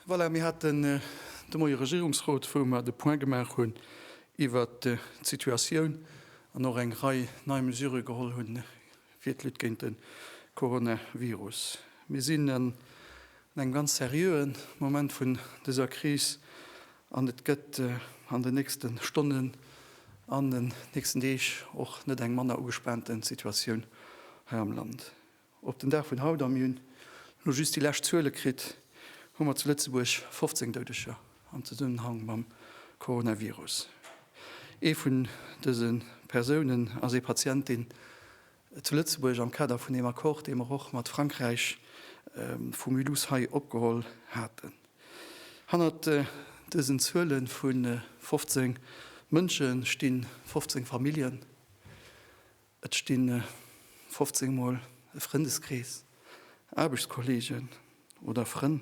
Voilà, mir haten de Moie Regierungsrot, wou mer de Point gemaach hunn iwwert d'Situatioun an och eng Rei nei Mesurë geholl hunn fir d'Lutte géint de Coronavirus. Mir sinn an engem ganz seriöe Moment vun dëser Kris an et gëtt an den nächste Stonnen an den nächsten Deeg och net eng manner ugespaante Situatioun hei am Land. Op den Dag vun haut, a mir hunn elo just déi lescht Zuele kritt, hu mer zu Lëtzebuerg 15 Doudeger am Zesummenhang mam Coronavirus. Ee vun dëse Persounen ass ee Patient, deen zu Lëtzebuerg am Kader vun deem Accord, dee mer och mat Frankräich vu Mulhouse hei opgeholl haten. Hannert dësen Zuele vu 15 Mënsche stinn 15 Familljen. Et stinn 15 mol e Frëndeskrees, Aarbechtskolleegen oder Frënn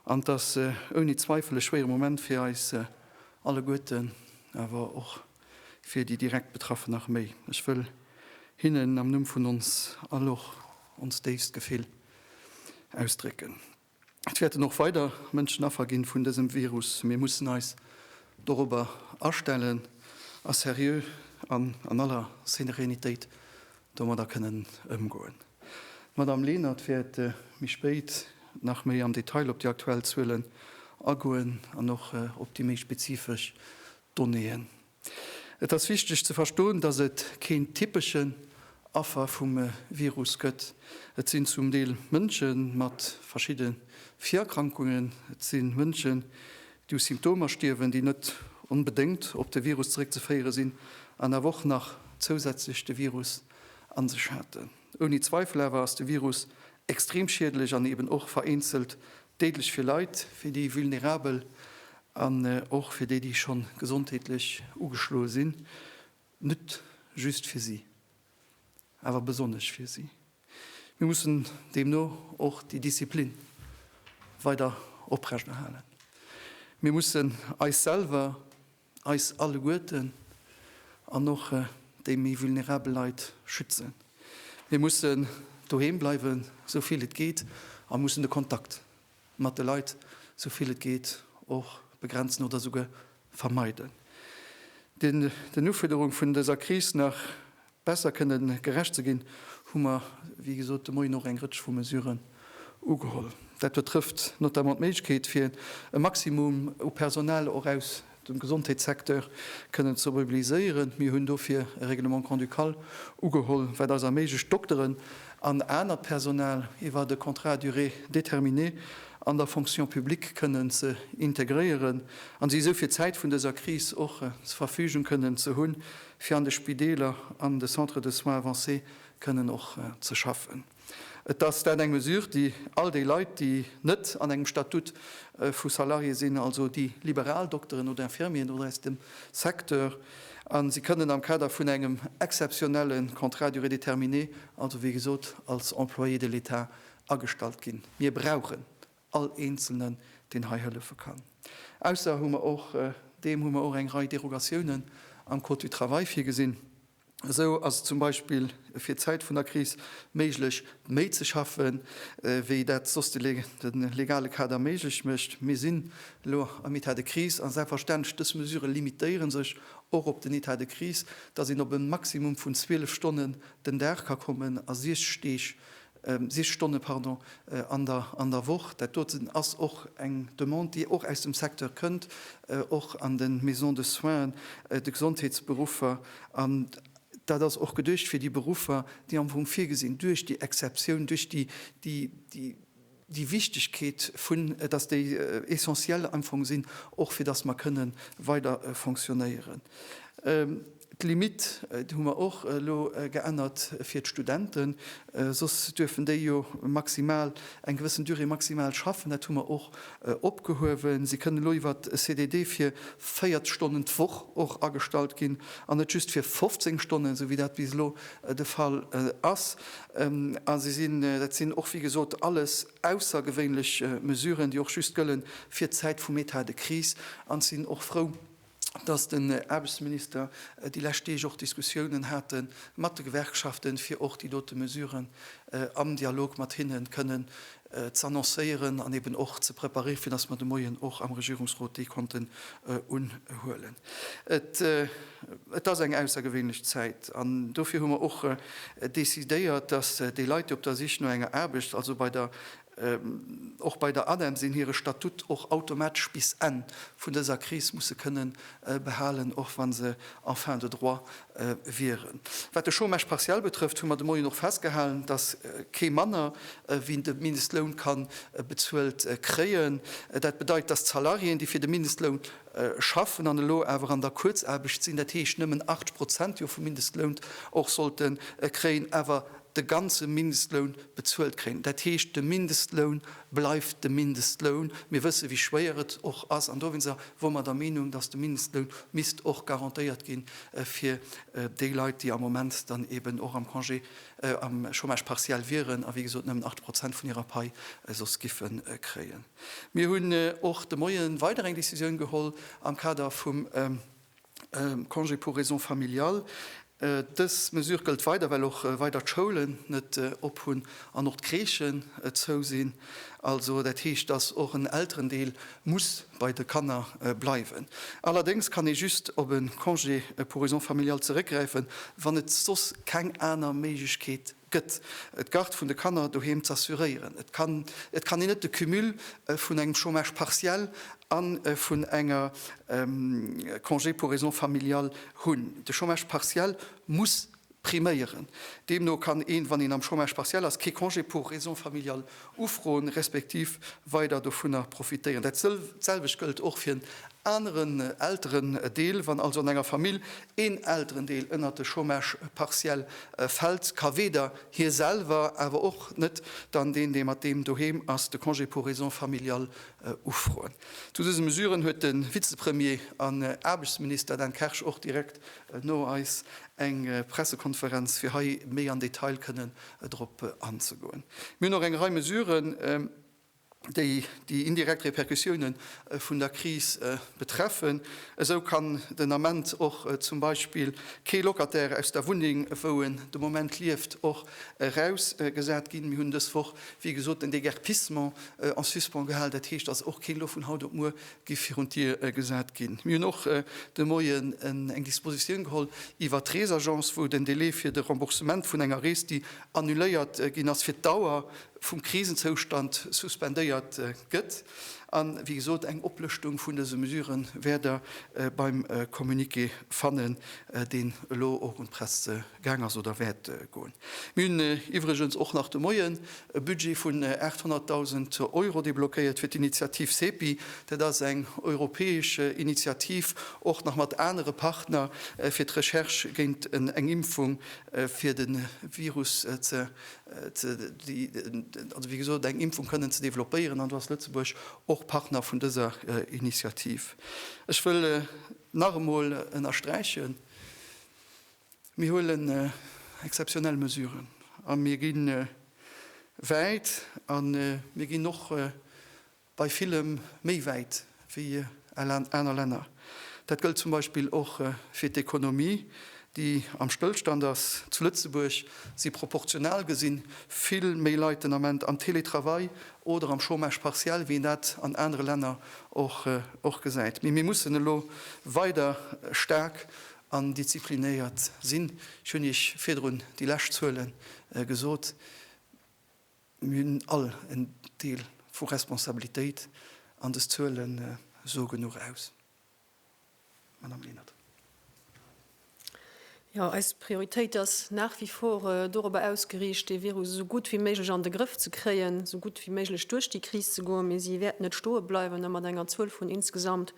an. 't ass ouni Zweifel e schwéiere Moment fir eis alleguerten, awer och fir déi direkt Betraffen nach méi. Ech wëll hinnen am Numm vun ons all och ons déifst Gefill ausdrécken. Et wäerten och weider Mënschen Affer ginn vun dësem Virus. Mir mussen eis dorobber astellen a seriö an an aller Serenität domadder kënnen ëmgoen. D'Madame Lenert wäert méi spéit nach méi am Detail op déi aktuell Zuelen agoen an och op déi méi spezifesch Donnéeën. Et ass wichteg ze verstoen, datt et keen typeschen Affer vum Virus gëtt. Et sinn zum Deel Mënsche mat verschidde Virerkrankungen, et si Mënschen, déi u Symptomer stierwen, déi net onbedéngt op de Virus zeréckzeféiere sinn an awer och nach zousätzlech de Virus a sech haten. Ouni Zweifel awer ass de Virus extrem schiedlech an eben och vereenzelt déidlech fir Leit, fir déi Vulnerabel an och fir déi, déi schonn gesondheetlech ugeschloe sinn. Net just fir si, awer besonnesch fir si. Mir mussen deemno och déi Disziplin weider oprechterhalen. Mir mussen eis selwer eis alleguerten an och déi méi vulnerabel Leit schützen. Mir mussen doheem bleiwen, esou vill et geet, a mussen de Kontakt mat de Leit esou vill et geet och begrenzen oder esouguer vermeiden. Den Ufuerderung vun dëser Kris nach Besser kënne gerecht ze ginn, hu mer wéi gesot de Moien och eng Rëtsch vu Mesuren ugeholl. Dat betrëfft notamment d'Méiglechkeet fir e Maximum u Personal och aus dem Gesondheetssecteur kënnen ze mobiliséieren. Mir hunn dofir e Règlement grand-ducal ugeholl, wat eis erméiglecht Dokteren an anert Personal iwwer e Contrat à durée déterminée an der Fonction publique kënnen ze integréieren a si esou fir d'Zäit vun dëser Kris och zur Verfügung kënnen ze hunn, fir an de Spideeler an de Centres de soins avancés kënnen och ze schaffen. Et ass dat eng Mesure, déi all déi Leit, déi net an engem Statut vu Salarié sinn, also déi liberal Dokteren oder Infirmieren oder aus dem Secteur, a si kënnen am Kader vun engem exzeptionelle Contrat à durée déterminée, also wéi gesot als Employé de l'État agestallt ginn. Mir brauchen all eenzelnen deen hei hëllefe kann. Ausser hu mer och deem hu mer och eng Rei Derogatiounen am Code du travail virgesinn. Esou ass et zum Beispill fir d'Zäit vun der Kris méiglech méi ze schaffe wéi dat soss de legale Kader méiglech mécht. Mir sinn elo am État de crise a selbstverständlech dës Mesurë limitéiere sech och op den État de crise, datt een op e Maximum vun 12 Stonnen den Dag ka kommen a 60 Deeg Sicht Stonne, pardon, an der Woch. Dat doten ass och eng Demande, déi och aus dem Secteur kënnt, och an de Maisons de soins, de Gesondheetsberuffer. An dat ass och geduecht fir déi Beruffer, déi am Fong virgesinn duerch déi Exceptioun, duerch déi Wichtigkeet, dass déi essentiel am Fong sinn, och fir dass mer kënnen weider fonctionnéieren. D'Limit, déi hu mer och elo geännert fir d'Studenten, soss duerfen déi jo maximal eng gewëssen Durée maximale schaffen, dat hu mer och opgehuewen. Si kënnen elo iwwer e CDD fir 40 Stonnen d'Woch och agestallt ginn an net just fir 15 Stonnen, esou wéi dat bis elo de Fall ass. A se sinn, dat sinn och wéi gesot alles aussergewéinlech Mesuren, déi och just gëlle fir d'Zäit vum Etat de crise an sinn och frou, dass den Aarbechtsminister déi lescht Deeg och Diskussiounen hat mat de Gewerkschaften, fir och déi dote Mesuren am Dialog mat hinne kënnen z'annoncéieren an eben och ze preparéfir, dass mer de Moien och am Regierungsrot déi konnten unhuelen. Et ass eng aussergewéinlech Zäit an dofir hu mer och decidéiert, dass déi Leit, déi op der Sich no enger Aarbecht, also bei der Och bei der ADEM sinn hire Statut och automatesch bis Enn vun dëser Kris musse kënnen behalen, och wa se en fin de droit wieren. Wat de Chômage partiel betrëfft, hu mer de Moien och festgehalen, dass kee manner wéi de Mindestloun ka bezuelt kréien. Dat bedeit, dass d'Salariéen, déi fir de Mindestloun schaffen an elo awer an der Kuerzaarbecht sinn, dat heescht nëmmen 80 Prozent jo vum Mindestloun och sollte kréien, awer de ganze Mindestloun bezuelt kréien. Dat heescht, de Mindestloun bleift de Mindestloun. Mir wësse wéi schwéier et och ass an dowéinster wore mer der Meenung, datt de Mindestloun misst och garantéiert gi fir déi Leit, déi am Moment dann eben och am Congé, am Chômage partiel wieren a wéi gesot nëmmen 8 Prozent vun hirer Pai soss giffe kréien. Mir hunn och de Moie weider eng Decisioun geholl am Kader vum Congé pour raisons familiales, Dës Mesure gëllt weider, well och weider d'Schoulen net op hunn an och d'Crèchen zou sinn. Also dat heescht, dass och en Elterendeel muss bei de Kanner bleiwen. Allerdéngs kann ee just op e Congé pour raisons familiales zeréckgräifen, wann et soss keng aner Méiglechkeet gëtt, d'Garde vun de Kanner doheem z'assuréieren. Et kann et kann een net de Cumul vun engem Chômage partiel a vun enger Congé pour raisons familiales hunn. De Chômage partiel muss priméieren. Deemno kann een, wann een am Chômage partiel ass, kee Congé pour raisons familiales Ufroen, respektiv weider dovunner profitéieren. Dat selwecht gëllt och fir en aneren Elterendeel. Wann also an enger Famill een Elterendeel ënnert de Chômage partiel fält, ka weder hie selwer, awer och net dann deen, dee mat deem doheem ass, de Congé pour raisons familiales ufroen. Zu dëse Mesuren huet de Vizepremier an Aarbechtsminister Dan Kersch och direkt no eis eng Pressekonferenz, fir hei méi an Detail kënnen drop anzegoen. Mir hunn och eng Rei Mesuren, déi déi indirekt Repercussioune vun der Kris betreffen. Esou kann den Ament och zum Beispill kee Locataire aus der Wunneng, wou en de Moment lieft, och erausgesat ginn. Mir hunn dës Woch, wéi gesot, den Déguerpissement en suspens gehal. Dat heescht, dass och keen elo vun haut op muer gi virun d'Dier gesat ginn. Mir hunn och de Moien eng Dispositioun geholl iwwert d'Reesagence, wou den Delai fir de Remboursement vun enger Rees, déi annuléiert ginn ass, fir d'Dauer vum Krisenzoustand suspendéiert gëtt. A wéi gesot, eng Oplëschtung vun dëse Mesure wäert Der beim Communiqué fannen, deen elo och un d'Press gaang ass oder wäert goen. Mir hunn iwwregens och nach de Moien e Budget vun 800.000 Euro deblockéiert fir d'Initiativ CEPI. Dat ass eng europäesch Initiativ, och nach mat anere Partner, fir d'Recherche géint eng Impfung fir de Virus ze, also wéi gesot, eng Impfung kënnen ze developpéieren. An do ass Lëtzebuerg och Partner vun dëser Initiativ. Ech wëll nach emol ënnersträichen, Mir huelen exzeptionell Mesuren a mir gi wäit a mir ginn och bei villem méi wäit wéi al aner Länner. Dat gëllt zum Beispill och fir d'Ekonomie, déi am Stëllstand ass. Zu Lëtzebuerg si proportional gesi vill méi Leit den Ament am Teletravail oder am Chômage partiel, wéi een dat an anere Länner och gesäit. Mee mir mussen elo weider staark an disziplinéiert sinn. Ech hunn Iech virdrun déi lescht Zuele gesot. Mir hunn all en Deel vu Responsabilitéit an des Zuele soe genuch aus. Madame Lenert. Jo, eis Prioritéit ass nach wie vor dorobber ausgeriicht, dee Virus esou gutt wéi méiglech an de Grëff ze kréien, esou gutt wéi méiglech duerch déi Kris ze goen. Mee si wäerten net stoe bleiwen a mat enger Zuel vun insgesamt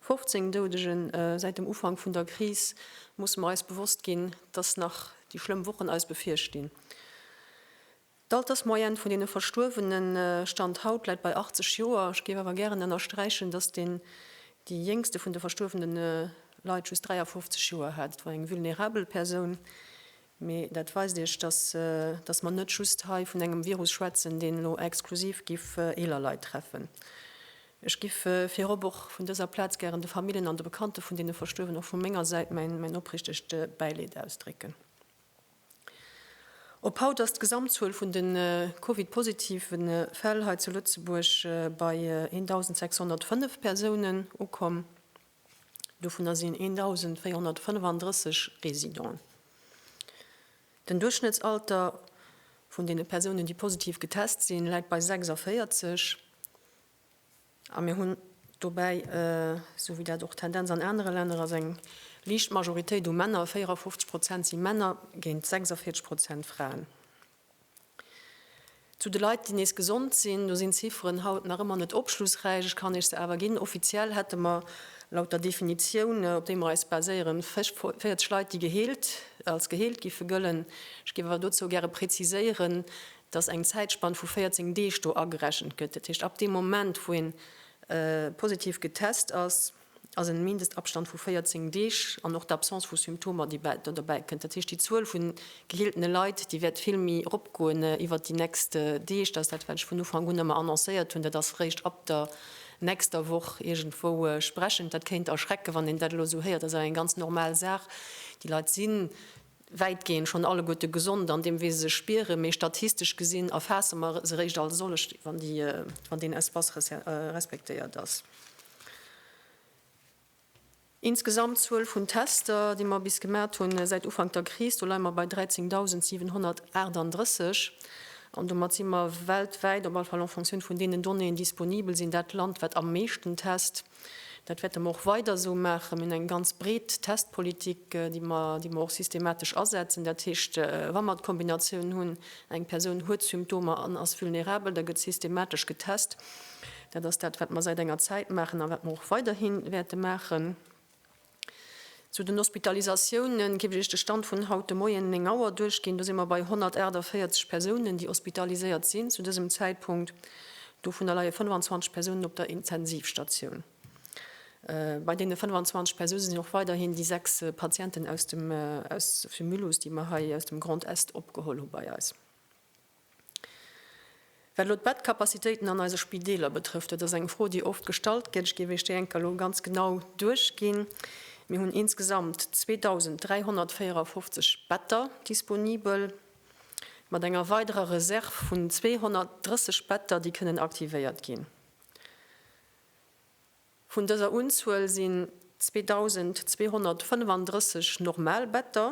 15 Doudege säit dem Ufank vun der Kris, musse mer eis bewosst ginn, dass nach déi schlëmm Wochen eis bevirstinn. D'Altersmoyenne vun deene Verstuerwene Stand haut läit bei 80 Joer. Ech géif awer gären ënnersträichen, dass deen déi jéngste vun de verstuerwene Leit just 53 Joer hat. Et war eng vulnerabel Persoun, Mee dat weist Iech, dass mer net just hei vun engem Virus schwätzen, deen elo exklusiv giff eeler Leit treffen. Ech giff virop och vun dëser Plaz gären de Famillen an de Bekannte vun deene Verstuerwen och vu menger Säit mäin oprichtegt Bäileed ausdrécken. Op haut ass d'Gesamtzuel vun de Covid-positive Fäll hei zu Lëtzebuerg bei 1.605 Persounen ukomm. Dovunner sinn 1.435 Resident. Den Duerchschnëttsalter vun deene Persounen, déi positiv getest sinn, läit bei 46, a mir hunn dobäi, esou wéi dat och d'Tendenz an anere Länner ass, eng liicht Majoritéit u Männer, 54 Prozent si Männer géint 46 Prozent Fraen. Zu de Leit, déi nees gesond sinn, do sinn d'Zifferen haut nach ëmmer net opschlussräich. Ech kann Iech se awer ginn, Offiziell hätte mer laut der Definitioun, op déi mer eis baséieren, 40 Leit, déi geheelt, als geheelt giffe gëllen. Ech géif awer dozou gäre preziséieren, dass eng Zäitspann vu 14 Deeg do agerechent gëtt. Dat heescht, ab deem Moment, wou ee positiv getest ass, ass e Mindestabstand vu 14 Deeg an och d'Absence vu Symptomer, déi do derbäi kënnt. Dat heescht, déi Zuel vun geheeltene Leit, déi wäert vill méi eropgoen iwwert déi nächst Deeg. Dat ass dat, wat ech vun Ufank un ëmmer annoncéiert hunn. Dat ass réischt ab der nächster Woch iergendwou sprechend. Dat kéint erschrecken, wann een dat elo esou héiert. Dat ass awer eng ganz normal Saach. Déi Leit sinn wäitgehend schonn alleguerte gesond an deem, wéi se sech spieren, mee statistesch gesinn erfaasse mer se réischt als sollech, wann deen Espace respektéiert ass. Insgesamt Zuel vun Tester, déi mer bis gemat hunn säit Ufank der Kris, do leie mer bei 13.738 an domat si mer weltwäit, op alle Fall en Fonctioun vun deenen Donnéeën, disponibel sinn, dat Land, wat am meeschten test. Dat wäerte mer och weider esou maachen. Mir hunn eng ganz breet Testpolitik, déi mer, déi mer och systematesch asetzen. Dat heescht, wa mer d'Kombinatioun hunn, eng Persoun huet Symptomer an ass vulnerabel, da gëtt systematesch getest. Dat ass dat, wat mer säit enger Zäit maachen a wat mer och weiderhi wäerte maachen. Zu den Hospitalisatiounen géif ech Iech de Stand vun haut de Moien 9 Auer duerchginn. Do si mer bei 148 Persounen, déi hospitaliséiert sinn zu dësem Zäitpunkt. Dovunner leie 25 Persounen op der Intensivstatioun. Bei deene 25 Persoune sinn och weiderhin déi sechs Patienten aus dem Mulhouse, déi mer hei aus dem Grand Est opgeholl hu bei eis. Wat elo d'Bettcapacitéiten an eise Spideeler betrëfft, dat ass eng Fro, déi oft gestallt gëtt. Ech géif Iech déi enker elo ganz genau duerchginn. Mir hunn insgesamt 2.354 Better disponibel, mat enger weiderer Reserve vun 230 Better, déi kënnen aktivéiert ginn. Vun dëser Unzuel sinn 2.235 normal Better.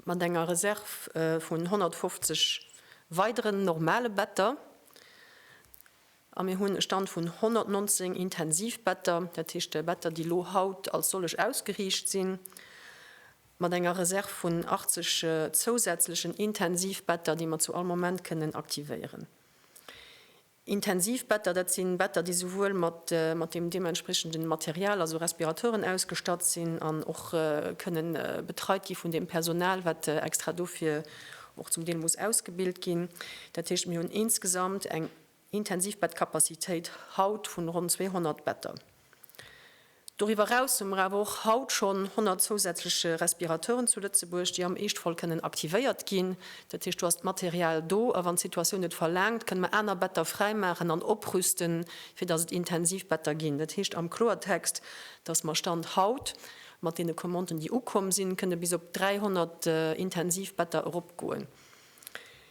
mat enger Reserv vun 150 weideren normale Better a mir hunn e Stand vun 119 Intensivbetter, dat heescht Better, déi elo haut als sollech ausgeriicht sinn, mat enger Reserv vun 80 zousätzlechen Intensivbetter, déi mer zu all Moment kënnen aktivéieren. Intensivbetter, dat si Better, déi souwuel mat dem deementspriechende Material, also Respiratoren, ausgestatt sinn an och kënne betreit gi vun deem Personal, wat extra dofir och zum Deel muss ausgebilt ginn. Dat heescht, mir hunn insgesamt eng Intensivbettcapacitéit haut vun ronn 200 Better. Doriwwer eraus hu mer awer och haut schonn 100 zousätzlech Respirateuren zu Lëtzebuerg, déi am Eeschtfall kënnen aktivéiert ginn. Dat heescht, do ass d'Material do, a wann d'Situatioun et verlaangt, kënne mer aner Better fräimaachen an oprüsten, fir datt et Intensivbetter ginn. Dat heescht am Kloertext, datt mer Stand haut, mat deene Commanden, déi ukomm sinn, kënne bis op 300 Intensivbetter eropgoen.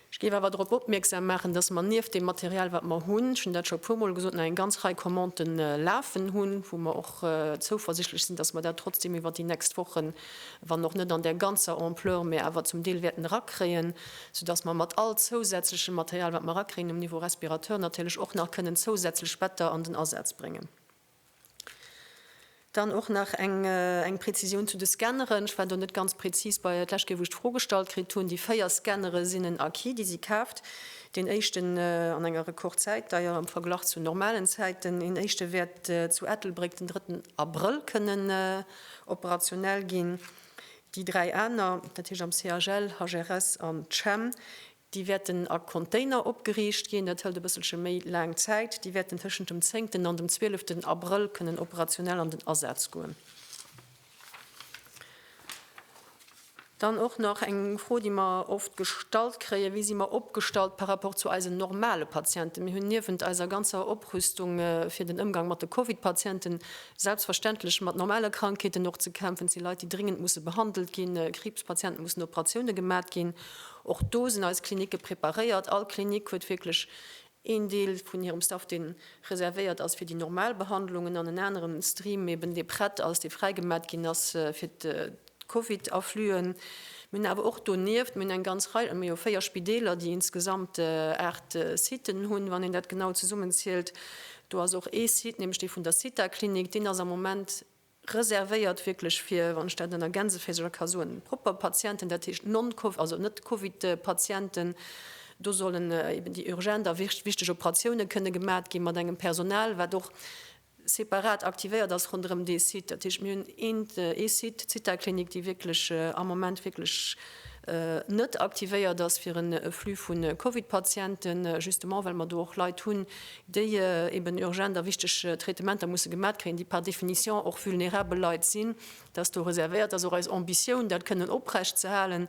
Ech géif awer drop opmierksam maachen, dass mer nieft deem Material, wat mer hunn, ech hunn dat scho e puermol gesot, nach eng ganz Rei Commandë lafen hunn, wou mer och zouversichtlech sinn, dass mer dat trotzdeem iwwert déi nächst Wochen, wann och net an där ganzer Ampleur, mä awer zum Deel wäerten erakréien, soudass mer mat all zousätzlechem Material, wat mer erakréien um Niveau Respirateur, natierlech och nach kënnen zousätzlech Better an den Asaz bréngen. Dann och nach eng Prezisioun zu de Scanneren. Ech war do net ganz prezis bei d'lescht Kéier, wou ech d'Fro gestallt kritt hunn. Déi véier Scannere sinn en Acquis, déi si kaaft. Deen éischten an enger Rekordzäit, deier am Verglach zu normalen Zäiten. Een éischte wäert zu Ettelbréck den drëtten Abrëll kënnen operationell ginn. Déi dräi aner, dat heescht am CHL, HRS an CHEM, Déi wäerten a Container opgeriicht ginn. Dat hëlt e bësselche méi laang Zäit. Déi wäerten tëschent dem zéngten an dem zwieleften Abrëll kënnen operationell an den Asaz goen. Dann och nach eng Fro, déi mer oft gestallt kréien, Wéi si mer opgestallt par rapport zu eisen normale Patienten? Mir hunn niewent eiser ganzer Oprüstung fir den Ëmgang mat de Covid-Patienten selbstverständlech mat normale Krankheeten och ze kämpfen. Et si Leit, déi dringend musse behandelt ginn. Kriibspatienten, mussen Operatioune gemat ginn. Och do sinn eis Klinicke preparéiert. All Klinik huet wierklech een Deel vun hirem Staff, dee reservéiert ass fir déi normal Behandlungen an en anere Stream eben, dee prett ass, dee fräigemat ginn ass fir d'Covid-Affluen. Mir hunn awer och donieft, mir hunn eng ganz Rei, mir hu véier Spideeler, déi insgesamt aacht Siten hunn, wann een dat genau zesummenzielt. Do ass och ee Site, nämlech dee vun der Zithaklinik, deen ass am Moment, Reservéiert wierklech fir, wann ech dat ënner Gänseféisercher ka soen, propper Patienten, dat heescht non, also net Covid-Patienten. Do sollen eben déi urgent a wichteg Operatioune kënne gemat gi mat engem Personal, wat och separat aktivéiert ass ronderëm dee Site. Dat heescht, mir hunn ee Site, d'Zithaklinik, déi wierklech am Moment wierklech net aktivéiert ass fir e Flux vu Covid-Patienten, justement well mer do och Leit hunn, déi eben urgent a wichteg Traitementer musse gemat kréien, déi par définition och vulnerabel Leit sinn, dass do reservéiert ass och eis Ambitioun, dat kënnen oprecht ze halen,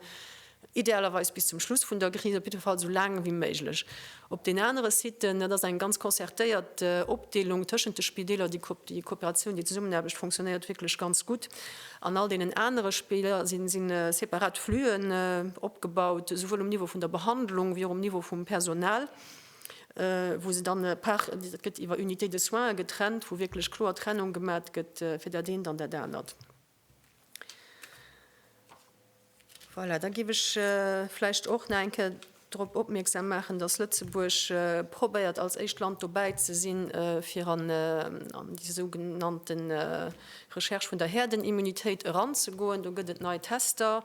idealerweis bis zum Schluss vun der Kris, op jidde Fall esou laang wéi méiglech. Op den anere Siten, dat ass eng ganz concertéiert Opdeelung tëschent de Spideeler, déi Kooperatioun, déi Zesummenaarbecht funktionéiert wierklech ganz gutt. An all deenen anere Spideeler si separat Flüen opgebaut, esouwuel um Niveau vun der Behandlung wéi och um Niveau vum Personal. wou se dann par, dat gëtt iwwer Unités de soins getrennt, wou wierklech kloer Trennung gemat gëtt fir dat eent an dat anert. Voilà, da géif ech vläicht och nach eng Kéier drop opmierksam maachen, datt Lëtzebuerg probéiert als éischt Land dobäi ze sinn, fir an déi sougenannte Recherche vun der Herdenimmunitéit eranzegoen. Do gëtt et nei Tester,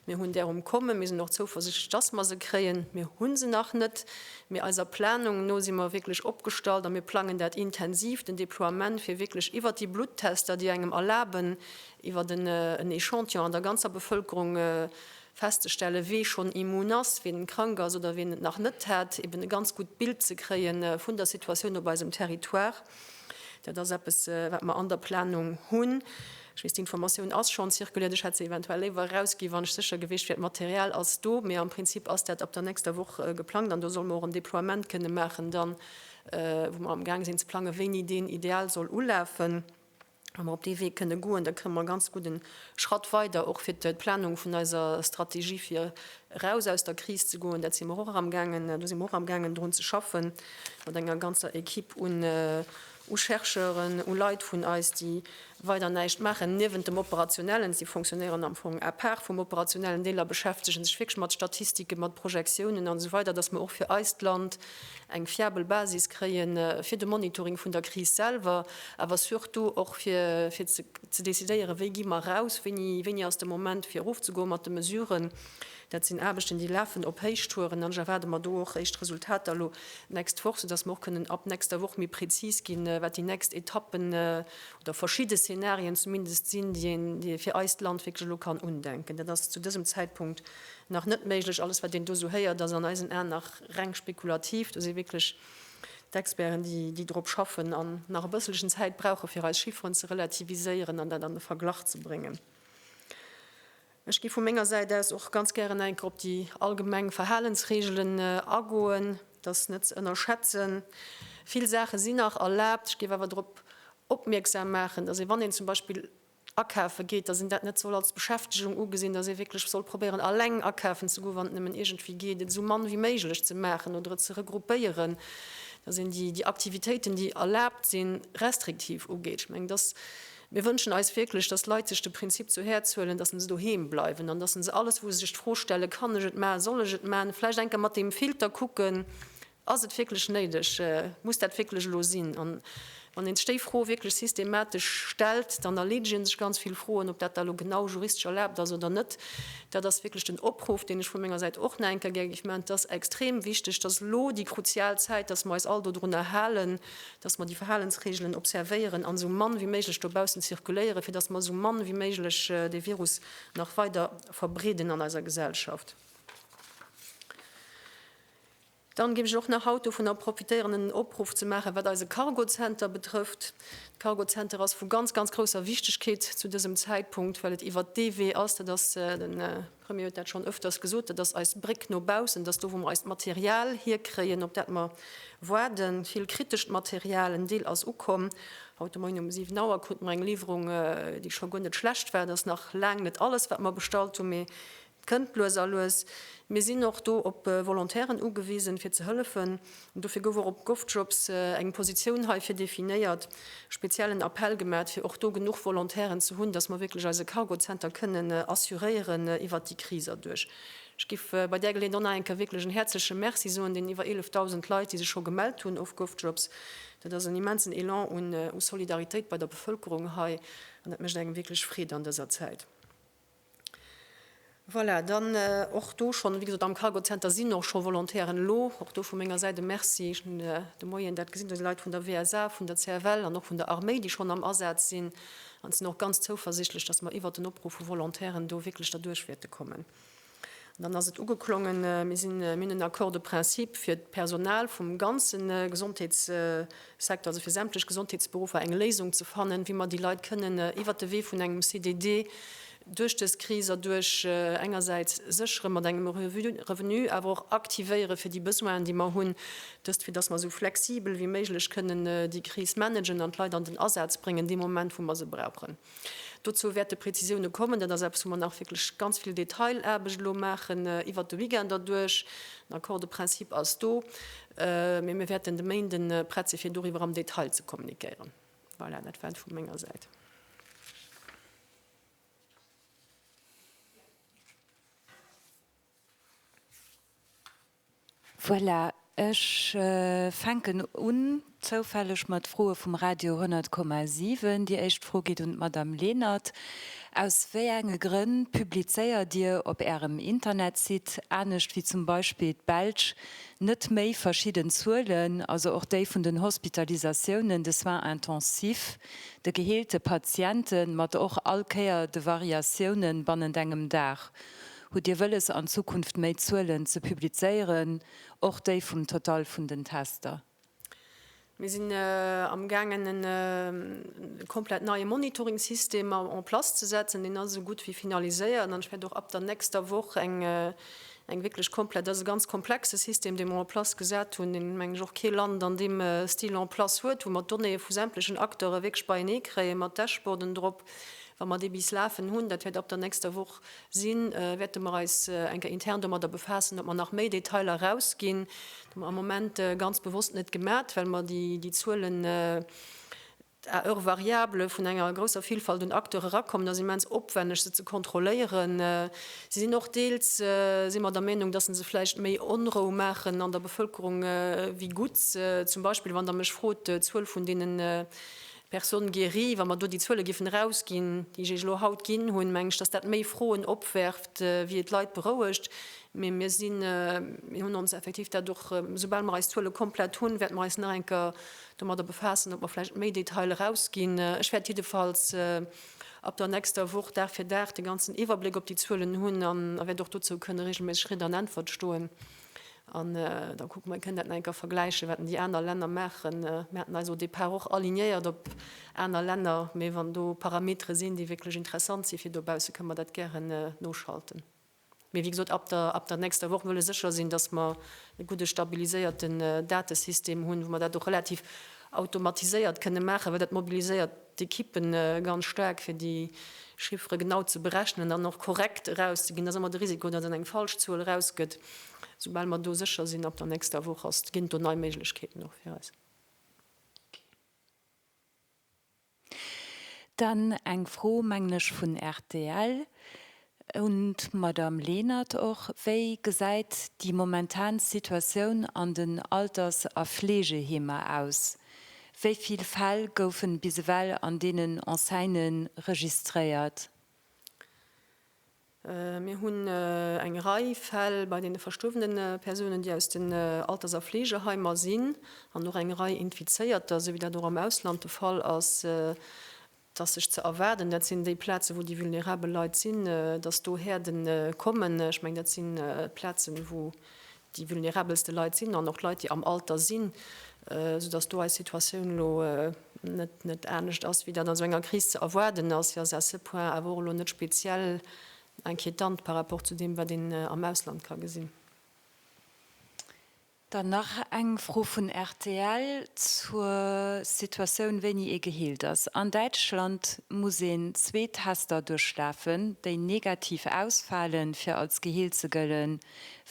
Mir hunn där um Kommen. Mir sinn och zouversichtlech, dass mer se kréien. Mir hu se nach net, mee eiser Planung no si mer wierklech opgestallt a mir plangen dat intensiv, den Deploiement, fir wierklech iwwert déi Bluttester, déi engem erlaben, iwwert en Echantillon an der ganzer Bevëlkerung festzestellen, wie schonn immun ass, wien krank ass oder wien et nach net hat, eben e ganz gutt Bild ze kréie vun der Situatioun op eisem Territoire. Dat ass eppes, wat mer an der Planung hunn. Ech weess, d'Informatioun ass schonn zirkuliert. Ech hätt se eventuell léiwer erausgi wann ech sécher gewiescht wier, d'Material ass do. Mee am Prinzip ass dat ab der nächster Woch geplangt an do solle mer och en Deploiement kënne maachen dann, wou mer amgaang sinn ze plangen, wéini deen ideal soll ulafen. Wa mer op dee Wee kënne goen, da kënne mer e ganz gudden Schratt weider och fir d'Planung vun eiser Strategie fir eraus aus der Kris ze goen. Dat si mer och eramgaangen, do si mer och amgaangen drun ze schaffen mat enger ganzer Equipe un, u Chercheuren, u Leit vun eis, déi weider näischt maachen niewent dem Operationellen, si fonctionnéieren am Fong à part vum Operationellen, Deeler beschäftege sech wierklech mat Statistiken, mat Projektiounen an esou weider, datt mer och fir eist Land eng fiabel Basis kréie fir de Monitoring vun der Kris selwer, awer surtout och fir ze decidéieren, wéi gi mer eraus, wéini ass de Moment fir erofzegoe mat de Mesuren. Dat sinn Aarbechten, déi lafen op Héichtouren, an ech erwaarde mer do och éischt Resultater elo d'nächst Woch, soudass mer och kënnen ab nächster Woch méi prezis ginn, wat déi nächst Etappen oder verschidde Szenarien zumindest sinn, déi een fir eist Land wierklech elo kann undenken. Dat ass zu dësem Zäitpunkt nach net méiglech. Alles, wat een do esou héiert, ass an eisen Aen nach reng spekulativ. Do si wierklech d'Experten, déi drop schaffen an nach e bësselchen Zäit brauchen, fir eis Chifferen ze relativiséieren an dat an de Verglach ze bréngen. Ech géif vu menger Säit aus och ganz gären eng Kéier op déi allgemeng Verhalensreegelen agoen. Dat ass net ze ënnerschätzen. Vill Saache sinn nach erlaabt. Ech géif awer drop opmierksam maachen, dass ee, wann een zum Beispill akafe geet, dass een dat net soll als Beschäftegung ugesinn, dass ee wierklech soll probéieren, alleng akafen ze goen, wann et nëmmen iergendwéi geet, et esou mann ewéi méiglech ze maachen oder et ze regroupéieren, dass een déi Aktivitéiten, déi erlaabt sinn, restriktiv ugeet. Ech mengen, dass Mir wënschen eis wierklech, dass d'Leit sech de Prinzip zu Häerz huelen, dass se doheem bleiwen an dass se alles, wou se sech d'Fro stellen, Kann ech et maachen, soll ech et maachen, vläicht eng Kéier mat deem Filter kucken, Ass et wierklech néideg, muss dat wierklech elo sinn? An wann een sech déi Fro wierklech systematesch stellt, dann erleedegen sech ganz vill Froen. Ob dat da elo genau juristesch erlaabt ass oder net, dat ass wierklech den Opruff, deen ech vu menger Säit och nach eng Kéier gär géif maachen. Et ass extrem wichteg, dass elo déi kruzial Zäit, dass mer eis all dodrunner halen, dass mer déi Verhalensreegelen observéieren an esou mann wéi méiglech dobaussen zirkuléieren, fir dass mer esou mann wéi méiglech dee Virus nach weider verbreeden an eiser Gesellschaft. Dann géif ech och nach haut dovunner profitéieren, en Opruff ze maachen, wat eise Cargozenter betrëfft. De Cargozenter ass vu ganz, ganz grousser Wichtigkeet zu dësem Zäitpunkt, well et iwwert dee Wee ass, dat ass den, Premier huet dat schonn öfters gesot, dat ass eis Bréck no baussen, dass do wou mer eist Material hierkréien, op dat mer waarden, vill kritescht Material, en Deel ass ukomm, haut de Moien um 7 Auer krute mer eng Liwwerung, déi scho guer net schlecht war, et ass nach laang net alles wat mer bestallt hunn, mee et kënnt lues a lues. Mir sinn och do op Volontairen ugewisen, fir ze hëllefen. Dofir gouf och op Govjobs eng Positioun heifir definéiert, speziell en Appell gemat, fir och do genuch Volontairen ze hunn, dass mer wierklech eise Cargo Center kënnen assuréieren iwwert déi Kris erduerch. Ech giff bei där Geleeënheet och nach eng Kéier wierklech en häerzleche Merci soen den iwwer 11.000 Leit, déi sech scho gemellt hunn of Govjobs. Dat ass en immensen Elan u Solidaritéit bei der Bevëlkerung hei an dat mécht engem wierklech Freed an dëser Zäit. Voilà, dann och do schonn, wéi gesot, am Cargozenter sinn och scho Volontairen elo. Och do vu menger Säit e Merci. Ech hunn de Moien dat gesinn, do si Leit vun der WSA, vun der CFL an och vun der Arméi, déi schonn am Asaz sinn. An ech sinn och ganz zouversichtlech, datt mer iwwert den Opruff vu Volontairen do wierklech derduerch wäerte kommen. An dann ass et ugeklongen, Mir sinn, mir hunn en Accord de principe fir d'Personal vum ganze Gesondheetssecteur, also fir sämtlech Gesondheetsberuffer eng Léisung ze fannen, wéi mer déi Leit kënnen iwwert de Wee vun engem CDD duerch dës Kris erduerch engersäits séchere mat engem Revenu, awer och aktivéiere fir déi Besoinen, déi mer hunn. Dëst, fir datt mer esou flexibel wéi méiglech kënnen déi Kris managen an d'Leit an den Asaz bréngen dee Moment, wou mer se brauchen. Dozou wäerte Prezisioune kommen. Dat ass eppes, wou mer nach wierklech ganz vill Detailaarbecht elo maachen iwwert de Weekend erduerch. Den Accord de principe ass do, mee mir wäerten de Méinden prett si fir doriwwer am Detail ze kommuniquéieren. Voilà, dat war et vu menger Säit. Voilà, ech fänken un, zoufälleg, mat Froe vum Radio 100,7. Déi éischt Fro geet un d'Madame Lenert. Aus wéi enge Grënn publizéiert Dir op Ärem Internetsite, anescht wéi zum Beispill d'Belsch, net méi verschidden Zuelen, also och déi vun den Hospitalisatiounen, de Soins intensifs, de geheelte Patienten, mat och all Kéier de Variatiounen bannent engem Dag? Hutt Dir wëlles an Zukunft méi Zuelen ze publizéieren, och déi vum Total vun den Tester? Mir sinn amgaangen en komplett neie Monitoring-System en place ze setzen. Deen ass esou gutt wéi finaliséiert an ech wäert och ab der nächster Woch eng eng wierklech komplett, dat ass e ganz komplexe System dee mer en place gesat hunn, deen meng ech och kee Land an deem Stil en place huet, wou mer d'Donnéeë vu sämtlechen Acteure wierklech beienee kréien, mat Dashboarden drop. Wa mer dee bis lafen hunn, dat wäert ab der nächster Woch sinn, wäerte mer eis eng Kéier intern domadder befaassen, ob mer nach méi Detailer erausginn. Dat hu mer am Moment ganz bewosst net gemat, well mer déi Zuelen à heures variables vun enger grousser Villfalt un Acteure erakommen. Et ass immens opwenneg, se ze kontrolléieren. Se sinn och deels, si mer der Meenung, datt se se vläicht méi Onrou maachen an der Bevëlkerung wéi gutt. Zum Beispill, wann Der mech frot, d'Zuel vun deenen Personnes guéries, wa mer do déi Zuele géifen erausginn, déi ech Iech elo haut ginn hunn, mengen ech, dass dat méi Froen opwerft, wéi et d'Leit berouegt. Mee mir sinn, mir hunn ons effektiv dat och, esoubal mer eis Zuele komplett hunn, wäerte mer eis nach eng Kéier domadder befaassen, ob mer vläicht méi Detail erausginn. Ech wäert jiddefalls ab der nächster Woch Dag fir Dag de ganzen Iwwerbléck op déi Zuelen hunn a wäert och dozou kënne reegelméisseg Ridd an Äntwert stoen. An da kucke mer, kënn dat nach eng Kéier vergläichen, wat déi aner Länner maachen. Mir haten eis au départ och alignéiert op aner Länner, mee wann do Parametere sinn, déi wierklech interessant si fir dobausse, kënne mer dat gären noschalten. Mee wéi gesot, ab der, ab der nächster Woch wëlle sécher sinn, dass mer e gudde stabiliséierten Datesystem hunn, wou mer dat och relativ automatiséiert kënne maachen, well dat mobiliséiert d'Ekippen ganz staark fir déi Chiffere genau ze berechnen an och korrekt erauszeginn. Et ass ëmmer de Risiko, datt een eng falsch Zuel erausgëtt. Soubal mer do sécher sinn, ab der nächster Woch ass, ginn et do nei Méiglechkeeten och fir eis. Dann eng Fro, mengen ech, vun rtl. Un d'Madame Lenert och, Wéi gesäit déi momentan Situatioun an den Alters a Fleegeheemer aus? Wéi vill Fäll goufen bis ewell an deenen Enseignen registréiert? Mir hunn eng Rei Fäll bei deene verstuerwene Persounen, déi aus den Alters a Fleegeheimer sinn, an och eng Rei Infizéierter, esou wéi dat och am Ausland de Fall ass. 't ass sech ze erwaarden, dat sinn déi Plazen, wou déi vulnerabel Leit sinn, dass do Häerde kommen. Ech mengen, dat si Plazen, wou déi vulnerabelste Leit sinn an och Leit, déi am Alter sinn, soudass do eis Situatioun elo net anescht ass, wéi dat an esou enger Kris ze erwaarden ass. Si ass à ce point awer och elo net speziell inquiétante par rapport zu deem, wat een am Ausland ka gesinn. Dann nach eng Fro vun rtl zur Situatioun, wéini ee geheelt ass. An Däitschland muss een zwee Tester duerchlafen, déi negativ ausfalen, fir als geheelt ze gëllen.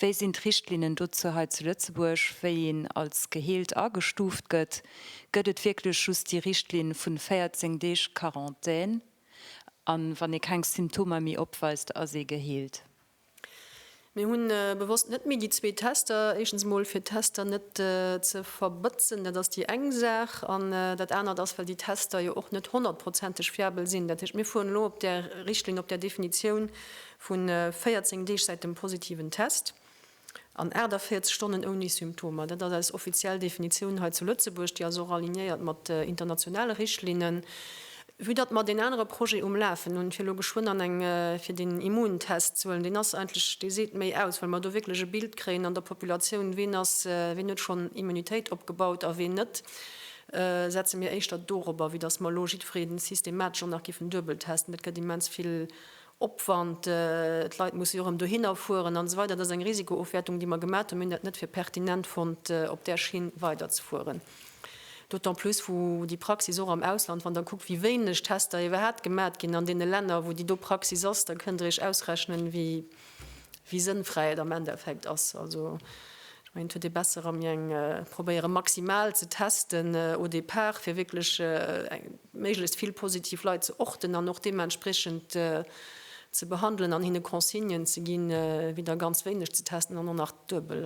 Wéi sinn d'Richtlinnen dozou hei zu Lëtzebuerg, wéi een als geheelt agestuuft gëtt? Gëtt et wierklech just déi Richtlinn vu 14 Deeg Quarantän, a wann ee keng Symptomer méi opweist, ass ee geheelt? Mir hunn bewosst net méi déi zwee Tester, éischtens emol fir d'Tester net ze verbëtzen, dat ass déi eng Saach, an dat anert ass, well déi Tester jo och net honnertprozenteg fiabel sinn. Dat heescht, mir fueren elo op där Richtlinn, op där Definitioun vu 14 Deeg säit dem positiven Test. An 48 Stonnen ouni Symptomer, dat ass eis offiziell Definitioun hei zu Lëtzebuerg, déi ass och alignéiert mat internationale Richtlinnen. Vue datt mer deen anere Projet um Lafen hunn, fir elo geschwënn an eng fir den Immuntest ze huelen, deen ass eigentlech, dee seet méi aus, well mer do wierklech e Bild kréien an der Populatioun, ween ass, ween huet schonn Immunitéit opgebaut a ween net, setze mir éischter dorobber, wéi datt mer elo jiddwereen systematesch och nach giffen duebel testen. Dat gëtt immens vill Opwand, d'Leit mussen jo erëm dohinner fueren an esou weider. Dat ass eng Risikoofwäertung, déi mer gemat hunn. Mir hunn dat net fir pertinent fonnt, op där Schinn weiderzefueren, d'autant plus wou déi Praxis och am Ausland, wann Der kuckt, wéi wéineg Tester iwwerhaapt gemat ginn an deene Länner, wou déi do Praxis ass, da kënnt Der Iech ausrechnen, wéi sënnfräi et am Endeffekt ass. Ech mengen, et huet ee besser erëm je eng probéieren, maximal ze testen au départ, fir wierklech méiglechst vill positiv Leit ze orten an och deementspreechend ze behandelen an hinne Consignen ze ginn, wéi da ganz wéineg ze testen an och nach duebel.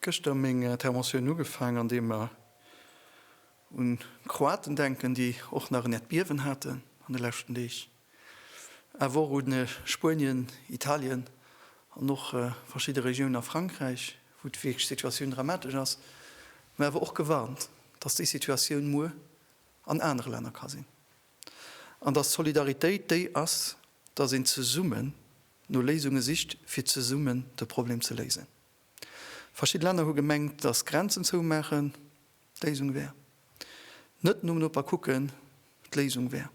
Gëschter meng Interventioun ugefaang, andeem mer un d'Kroaten denken, déi och nach en Äerdbiewen haten an de leschten Deeg, awer och u Spuenien, Italien an och verschidde Regiounen a Frankräich, wou wierklech d'Situatioun dramatesch ass, mä awer och gewarnt, dass déi Situatioun muer an anere Länner ka sinn an dass d'Solidaritéit déi ass, dass een zesummen no Léisunge sicht, fir zesummen de Problem ze léisen. Verschidde Länner hu gemengt, datt d'Grenzen zoumaachen d'Léisung wär, net nom Noper kucken d'Léisung wär.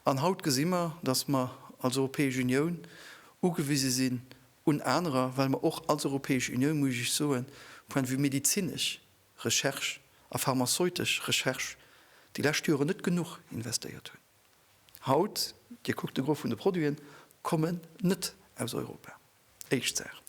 An haut gesi mer, datt mer als Europäesch Unioun ugewise sinn un anerer, well mer och als Europäesch Unioun, muss ech Iech soen, point de vue medezinesch Recherche a pharmazeutesch Recherche déi lescht Jore net genuch investéiert hunn. Haut, Dir kuckt de Gros vun de Produiten kommen net aus Europa. Éischt Saach,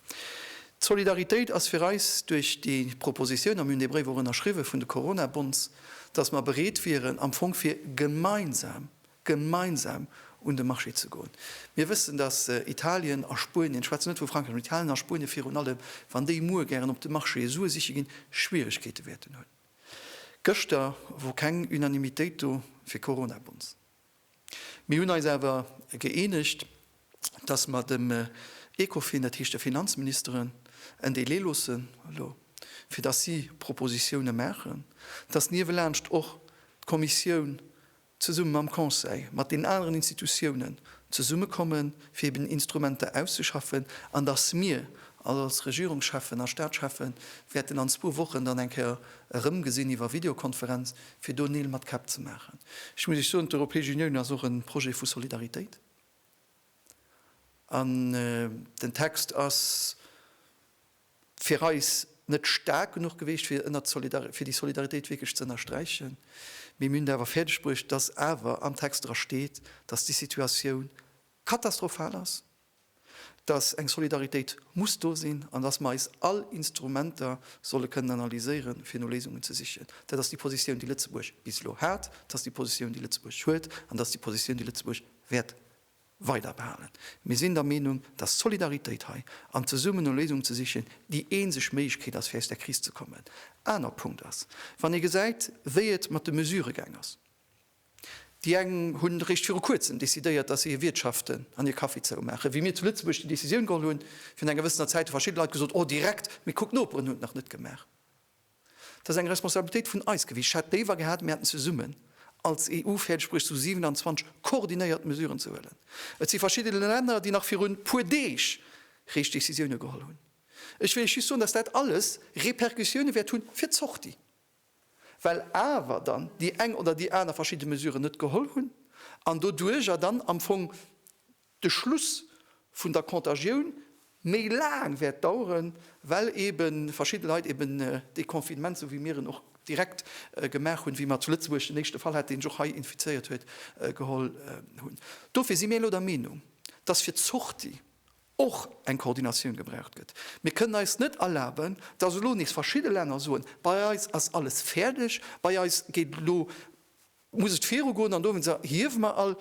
d'Solidaritéit ass fir eis duerch déi Proposition, a mir hunn dee Bréif och ënnerschriwwen, vun de Corona-Bonds, dass mer bereet wieren am Fong fir gemeinsam, gemeinsam un de Marché ze goen. Mir wëssen, dass Italien a Spuenien, ech schwätzen net vu Frankräich, mä Italien a Spuenien virun allem, wann déi muer gären op de Marché Sue siche ginn, Schwierigkeete wäerten hunn. Gëschter wor keng Unanimitéit do fir Corona-Bonds. Mir hunn eis awer gëeenegt, dass mer dem Ecofin, dat heescht de Finanzministeren, en Délai loossen elo, fir dass si Propositiounen maachen, dass niewelaanscht och d'Kommissioun zesumme mam Conseil, mat den aneren Institutiounen zesummekommen, fir eben Instrumenter auszeschaffen, an dass mir als Regierungscheffen a Statschefen wäerten an zwou Wochen dann eng Kéier erëmgesinn iwwer Videokonferenz, fir do Neel mat Käpp ze maachen. Ech muss Iech soen, d'Europäesch Unioun ass och e Projet vu Solidaritéit. An den Text ass fir eis net staark genuch gewiescht, fir ënnert d'Solidar, fir déi Solidaritéit wierklech ze ënnersträichen. Mee mir hunn et awer fäerdegbruecht, dass awer am Text dra steet, dass déi Situatioun katastrophal ass. dass eng Solidaritéit muss do sinn an dass mer eis all Instrumenter solle kënnen analyséieren, fir no Léisungen ze sichen. Dat ass déi Positioun, déi Lëtzebuerg bis elo hat, dat ass déi Positioun, déi Lëtzebuerg huet an dat ass déi Positioun, déi Lëtzebuerg wäert weiderbehalen. Mir sinn der Meenung, dass d'Solidaritéit hei an zesummen no Léisungen ze sichen déi eenzeg Méiglechkeet ass, fir aus där Kris ze kommen. Aner Punkt ass, wann ee gesäit, wéi et mat de Mesurë gaang ass, Déi eng hunn eréischt viru kuerzem decidéiert, dass si hir Wiertschaften an hir Caféë zoumaachen. Wéi mir zu Lëtzebuerg déi Decisioun geholl hunn, virun enger wëssener Zäit, hu verschidde Leit gesot, oh direkt, mee kuck d'Noperen hunn et nach net gemaach. Dat ass eng Responsabilitéit vun eis gewiescht. Ech hätt léiwer gehat, mir hätten zesummen als EU fäerdeg bruecht, zu 27 koordinéiert Mesuren ze huelen. Et si verschidde Länner, déi nach virun e puer Deeg réischt Decisioune geholl hunn. Ech wëll Iech just soen, dass dat alles Repercussioune wäert hu fir d'Sortie. well awer dann déi eng oder déi aner verschidde Mesuren net geholl hunn an doduerjer dann am Fong de Schluss vun der Contagioun méi laang wäert daueren, well eebe verschidde Leit eeben dee Confinement, sou wéi mir en och direkt gemaach hunn, wéi mer zu Lëtzebuerg den éischte Fall haten, dee sech och hei infizéiert huet, geholl hunn. Dofir si mir elo der Meenung, dass fir d'Sortie och eng Koordinatioun gebraucht gëtt. Mir kënnen eis net erlaben, dass elo nees verschidde Länner soen, bei eis ass alles fäerdeg, bei eis geet et elo, muss et virugoen an dowéinst hiewe mer all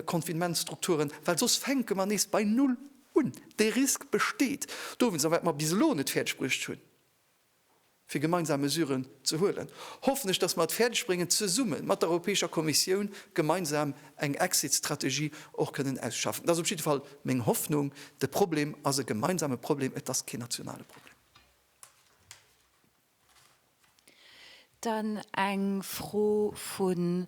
Confinementsstrukturen, well soss fänke mer nees bei Null un. Dee Risk besteet dowéinst, a wat mer bis elo net fäerdegbruecht hunn, fir gemeinsam Mesuren ze huelen, hoffen ech, dass mer et fäerdeg bréngen, zesumme mat der Europäescher Kommissioun gemeinsam eng Exit-Strategie och kënnen ausschaffen. Dat ass op jidde Fall meng Hoffnung. De Problem ass e gemeinsame Problem, et ass keen nationale Problem. Dann eng Fro vun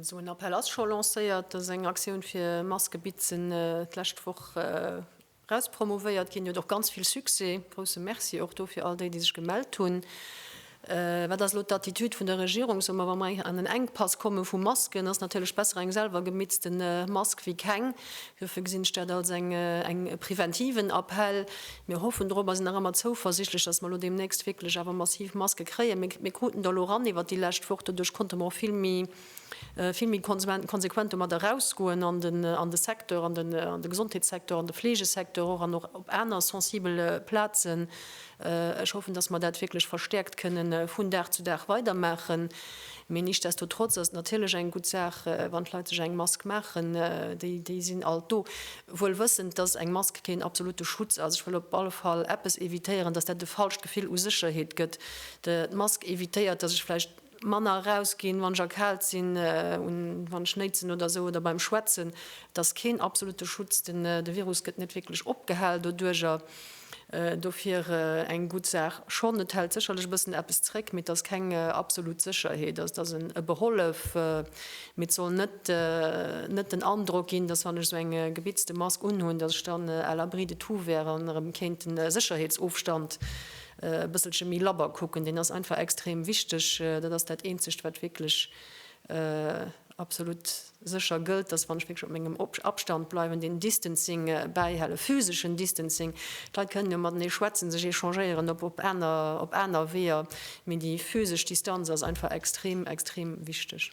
Esou en Appell ass scho lancéiert. Et ass eng Aktioun fir Maskebitzen d'lescht Woch eraus promouvéiert ginn. Déi huet och ganz vill Succès. Grousse Merci och do fir all déi, déi sech gemellt hunn. Wat ass elo d'Attitude vun der Regierung? Soe mer, wa mer an en Enkpass komme vu Masken, ass natierlech besser eng selwer gemitzte Mask wéi keng. Dofir gesinn ech dat als eng preventiven Appell. Mir hoffen drop a sinn nach ëmmer zouversichtlech, dass mer elo deemnächst wierklech awer massiv Maske kréien. Mir kruten der elo eran iwwert déi lescht Woch. Doduerch konnte mer och vill méi konsequent domat erausgoen an de Secteur, an de Gesondheetssecteur, an de Fleegesecteur och an och op aner sensibele Plazen, Ech hoffen, dass mer dat wierklech verstäerkt kënne vun Dag zu Dag weidermaachen. Mee nichtsdestotrotz ass et natierlech eng gutt Saach, wann d'Leit sech eng Mask maachen. Déi sinn alt do, wuel wëssend, dass eng Mask keen absolute Schutz ass. Ech wëll op alle Fall eppes evitéieren, dass dat e falscht Gefill u Sécherheet gëtt. D'Mask evitéiert, dass ech vläicht manner eraus ginn, wann ech erkaalt sinn, wann ech néitsen oder esou oder beim Schwätzen, et ass keen absolute Schutz, de Virus gëtt net wierklech opgehal doduerjer, dofir eng gutt Saach schonn. Et hält sécherlech e bëssen eppes zréck, mee et ass keng absolut Sécherheet, et ass e Behollef, mee et soll net net den Androck ginn, dass wann ech esou eng gebitzte Mask unhunn, dass ech dann à l'abri de tout wär an erëm kéint de Sécherheetsofstand e bësselche méi labber kucken, deen ass einfach extrem wichteg. Dat ass dat eenzegt wat wierklech absolut sécher gëllt, dass wann ech wierklech op mengem Abstand bleiwen, deen Distancing bäihale, physeschen Distancing, d'Leit kënnen jo matenee schwätzen, sech échangéieren op op aner op aner Weeër, mee déi physesch Distanz ass einfach extrem extrem wichteg.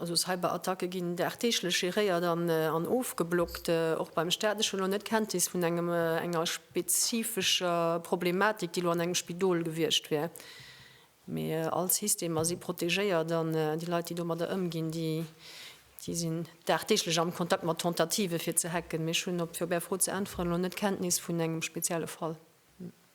Also Cyberattacke ginn dagdeeglech geréiert an ofgeblockt. Och beim Staat. Ech hunn elo net Kenntnis vun engem, enger spezifescher Problematik, déi elo an engem Spidol gewiescht wär. Mee all Systemer si protegéiert an déi Leit, déi domadder ëmginn, déi sinn dagdeeglech am Kontakt mat Tentativen, fir ze hacken. Mee ech hunn, fir op Är Fro ze äntweren, elo net Kenntnis vun engem spezielle Fall.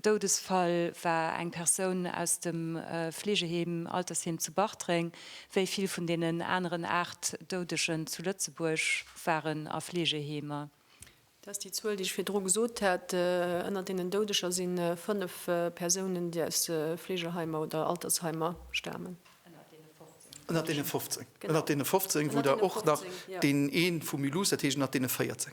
Doudesfall war eng Persoun aus dem Fleegeheem Altersheem zu Bartreng. Wéi vill vun deenen aneren 8 Doudegen zu Lëtzebuerg waren a Fleegeheemer. Dat ass déi Zuel, déi ech virdru gesot hat. Ënner deenen Doudeger si 5 Persounen, déi aus Fleegeheimer oder Altersheimer stamen. Ënner deene 15, wou der och nach deen ee vu Mulhouse, dat heescht ënner deene 14.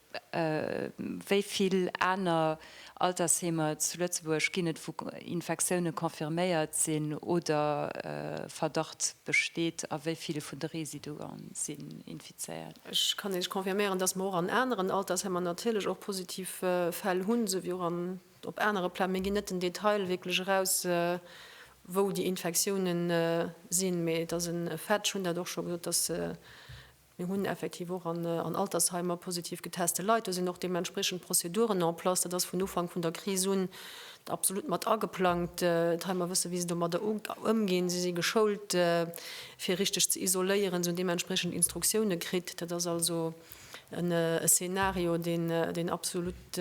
Wéi vill aner Altersheemer zu Lëtzebuerg ginn et, wou Infektioune confirméiert sinn oder Verdacht besteet, a wéi vill vun de Residue si infizéiert? Ech kann Iech confirméieren, dass mer och an aneren Altersheemer natierlech och positiv Fäll hunn, esou wéi och op anere Pla. Mir ginn net den Detail wierklech eraus, wou déi Infektioune sinn, mee et ass e Fait, ech hunn dat och scho gesot, dass Mir hunn effektiv och an Altersheimer positiv geteste Leit. Do sinn och deementspriechend Prozeduren en place. Dat ass vun Ufank vun der Kris un absolut mat ageplangt. D'Heimer wësse wéi se domadder ëmginn. Si si geschoult fir richteg ze isoléieren. Si hunn deementspriechend Instruktioune kritt. Dat ass also e Szenario, deen absolut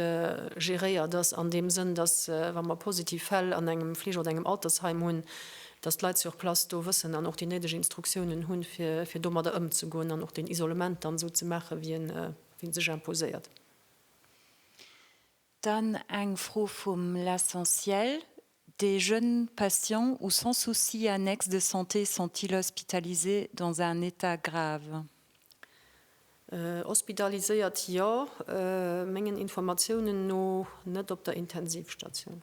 geréiert ass an deem Sënn, datt wa mer positiv Fäll an engem Fleege oder engem Altersheim hunn, dass d'Leit sur place do wëssen an och déi néideg Instruktiounen hunn, fir domadder ëmzegoen an och deen Isolement dann esou ze maachen, wéi e sech imposéiert. Dann eng Fro vum L'essentiel, Des jeunes patients ou sans soucis annexe de santé sont-ils hospitalisés dans un état grave? Hospitaliséiert, jo. Mengen Informatiounen no net op der Intensivstation.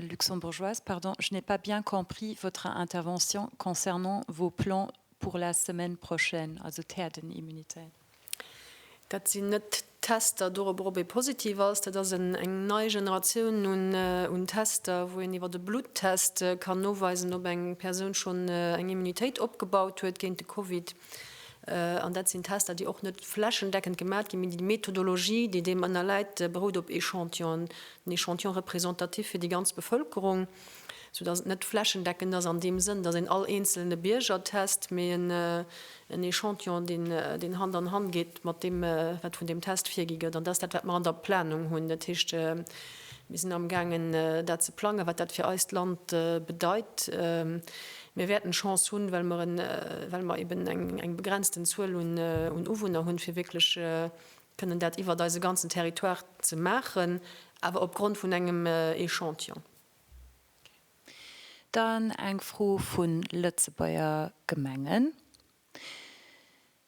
Luxembourgeoise, pardon, je n'ai pas bien compris votre intervention concernant vos plans pour la semaine prochaine, also d'Herdenimmunität. Dat sinn net d'Tester dorobber, ob ee positiv ass. Dat ass eng nei Generatioun un Tester, wou een iwwer e Bluttest kann noweisen, ob eng Persoun schonn eng Immunitéit opgebaut huet géint de Covid. An dat sinn Tester, déi och net flächendeckend gemat ginn, mee déi Methodologie, déi deem ënnerläit, berout op Echantillonen, en Echantillon représentatif fir déi ganz Bevëlkerung, soudass et net flächendeckend ass an deem Sënn, dass een all eenzelne Bierger test, mee en Echantillon, deen Hand an Hand geet mat deem, wat vun deem Test virgi gëtt. An dat ass dat, wat mer an der Planung hunn. Dat heescht. Mir sinn amgaangen, dat ze plangen, wat dat fir eist Land bedeit. Mir wäerten Chance hunn, well mer, well mer eben eng begrenzten Zuel un Uwunner hunn, fir wierklech kënnen dat iwwert eise ganzen Territoire ze maachen, awer opgrond vun engem Echantillon. Dann eng Fro vu Lëtzebuerger Gemengen.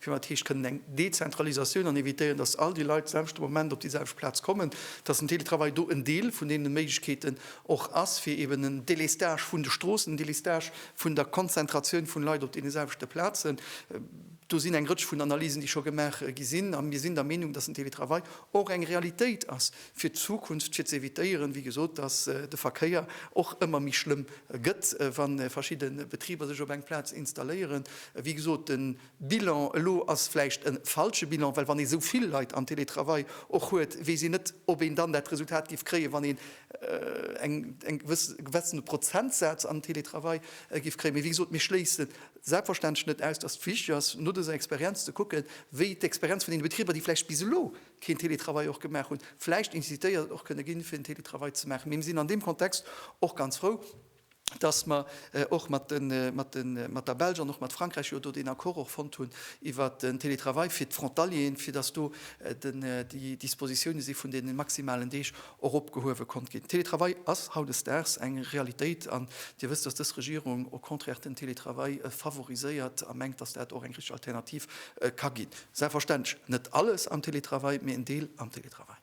Firwat heescht kënnen eng Dezentralisatioun an evitéieren, dass all déi Leit selwechte Moment op déi selwecht Plaz kommen, dass den Teletravail do en Deel vun deene Méiglechkeeten och ass, fir eben en Délestage vun de Stroossen, en Délestage vun der Konzentratioun vun Leit op deene selwechte Plazen? Do sinn eng Rëtsch vun Analysen, déi scho gemaach gi sinn. A mir sinn der Meenung, dass den Teletravail och eng Realitéit ass. fir d'Zukunft, fir z'evitéieren, wéi gesot, dass de Verkéier och ëmmer méi schlëmm gëtt, wa verschidde Betriber sech op eng Plaz installéieren. Wéi gesot, de Bilan elo ass vläicht e falsche Bilan, well wann ee sou vill Leit am Télétravail och huet, weess een net, ob een dann dat Resultat géif kréien, wann een eng gewëssene Prozentsaz am Télétravail géif kréien. Mee wéi gesot, mir schléissen selbstverständlech net aus, dass et wichteg ass, no dëser Experienz ze kucken, wéi d'Experienz vun deene Betriber, déi vläicht bis elo keen Télétravail och gemaach hunn, vläicht incitéiert och kënne ginn, fir den Télétravail ze maachen. Mee mir sinn an deem Kontext och ganz frou, dass mer och mat der Belsch an och mat Frankräich jo do deen Accord och fonnt hunn iwwert den Télétravail fir d'Frontalieren, fir dass do déi Dispositione si vun deene maximalen Deeg och opgehuewe konnt ginn. Télétravail ass hautdesdaags eng Realitéit an Dir wësst, dass dës Regierung au contraire den Télétravail favoriséiert a mengt, dass dat och eng richtig Alternativ ka ginn. Selbstverständlech net alles am Télétravail, mee en Deel am Télétravail.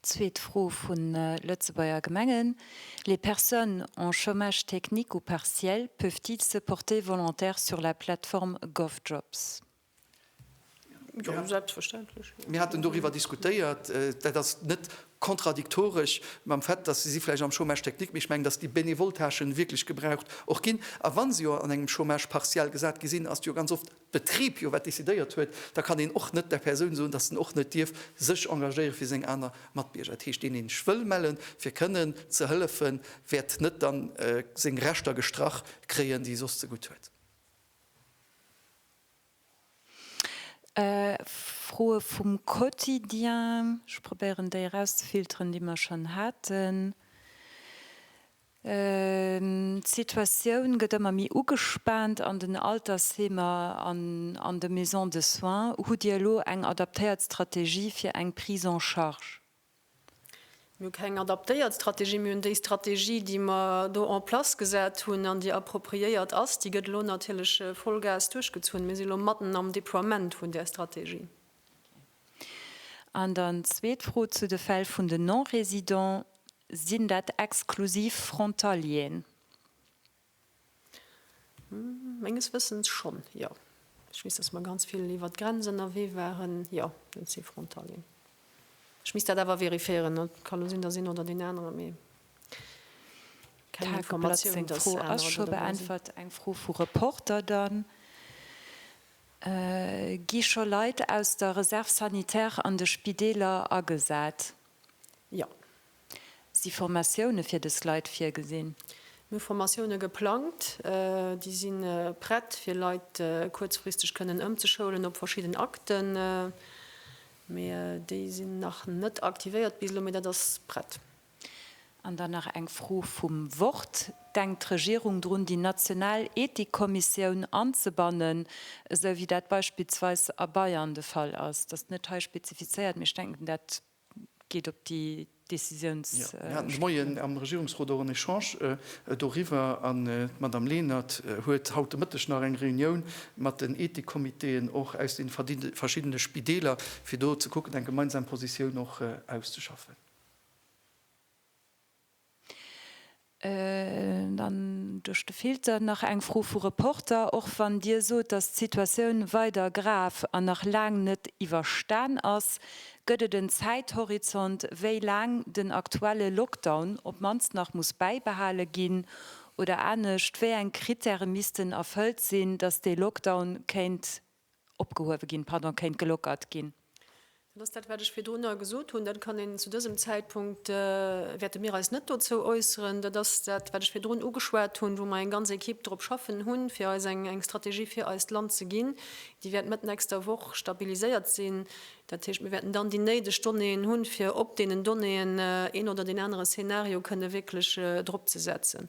Zweet Fro vu Lëtzebuerger Gemengen, Les personnes en chômage technique ou partiel peuvent-ils se porter volontaires sur la plateforme Govjobs? Mir haten doriwwer diskutéiert. Dat ass net kontradiktoresch mam Fait, dass si vläicht am Chômage technique, mee ech mengen, dass déi benevol Tâchen wierklech gebraucht och ginn. A wa se jo an engem Chômage partiel gesat gi sinn, ass et jo ganz oft d'Betrib jo wat decidéiert huet. Da kann een och net der Persoun soen, dass en och net dierf sech engagéiere fir seng aner Matbierger. Dat heescht, deen een ech wëll mellen, fir kënnen ze hëllefen, wäert net dann seng Rechter gestrach kréien, déi e soss ze gutt huet. Froe vum Quotidien, ech probéieren déi erauszefilteren, déi mer schonn haten. D'Situatioun gëtt ëmmer méi ugespaant an den Altersheemer an an de Maisons de soins. Hutt Dir elo eng adaptéiert Strategie fir eng Prise en charge? Mir hu keng adaptéiert Strategie. Mir hunn déi Strategie, déi mer do en place gesat hunn an déi appropriéiert ass. Déi gëtt elo natierlech Vollgas duerchgezunn. Mir si elo matten am Deploiement vun där Strategie. An dann d'zweet Fro zu de Fäll vun den Non-résidents. Sinn dat exklusiv Frontalieren? Menges Wëssens schonn, jo. Ech weess, datt mer ganz vill iwwert d'Grenz ënnerwee waren. Jo, et si Frontalieren. Ech misst dat awer vérifiéieren. Et ka elo sinn, datt een oder deen anere méi keng Informatioun huet. D'Tageblatt seng Fro ass scho beäntwert. Eng Fro vu Reporter dann, Gi scho Leit aus der Réserve sanitaire an de Spideeler agesat? Jo. Si Formatioune fir dës Leit virgesinn? Mir hu Formatioune geplangt. Déi si prett, fir Leit kuerzfristeg kënnen ëmzeschoulen op verschidden Akten. Mee déi sinn nach net aktivéiert bis elo. Mee dat ass prett. An dann nach eng Fro vum Wort, Denkt d'Regierung drun, déi national Ethikkommissioun anzebannen, esou wéi dat beispillsweis a Bayern de Fall ass? Dat ass net hei spezifizéiert, mee ech denken dat Geet op déi Décisions. Mir haten de Moien am Regierungsrot och en Echange doriwwer an d'Madame Lenert huet haut de Mëtteg nach eng Reunioun mat den Ethikcomitéen och aus de verschiddene Spideeler, fir do ze kucken, eng gemeinsam Positioun och auszeschaffen. Dann duerch de Filter nach eng Fro vu Reporter, Och wann Dir sot, datt d'Situatioun weider grav an nach laang net iwwerstan ass, gëtt et en Zäithorizont, wéi laang den aktuelle Lockdown op d'mannst nach muss bäibehale ginn? Oder anescht, Wéi eng Krittäre missten erfëllt sinn, datt dee Lockdown kéint opgehuewe ginn, pardon, kéint gelockert ginn. Dat ass dat, wat ech virdrunner gesot hunn. Dat kann een zu dësem Zäitpunkt, wäerte mir eis net dozou äusseren. Dat ass dat, wat ech virdrun ugeschwat hunn, wou mer eng ganz Ekipp drop schaffen hunn, fir eis eng Strategie fir eist Land ze ginn. Déi wäert Mëtt nächster Woch stabiliséiert sinn. Dat heescht, mir wäerten dann déi néideg Donnéeën hunn, fir op deenen Donnéeën een oder deen anere Szenario kënne wierklech drop ze setzen.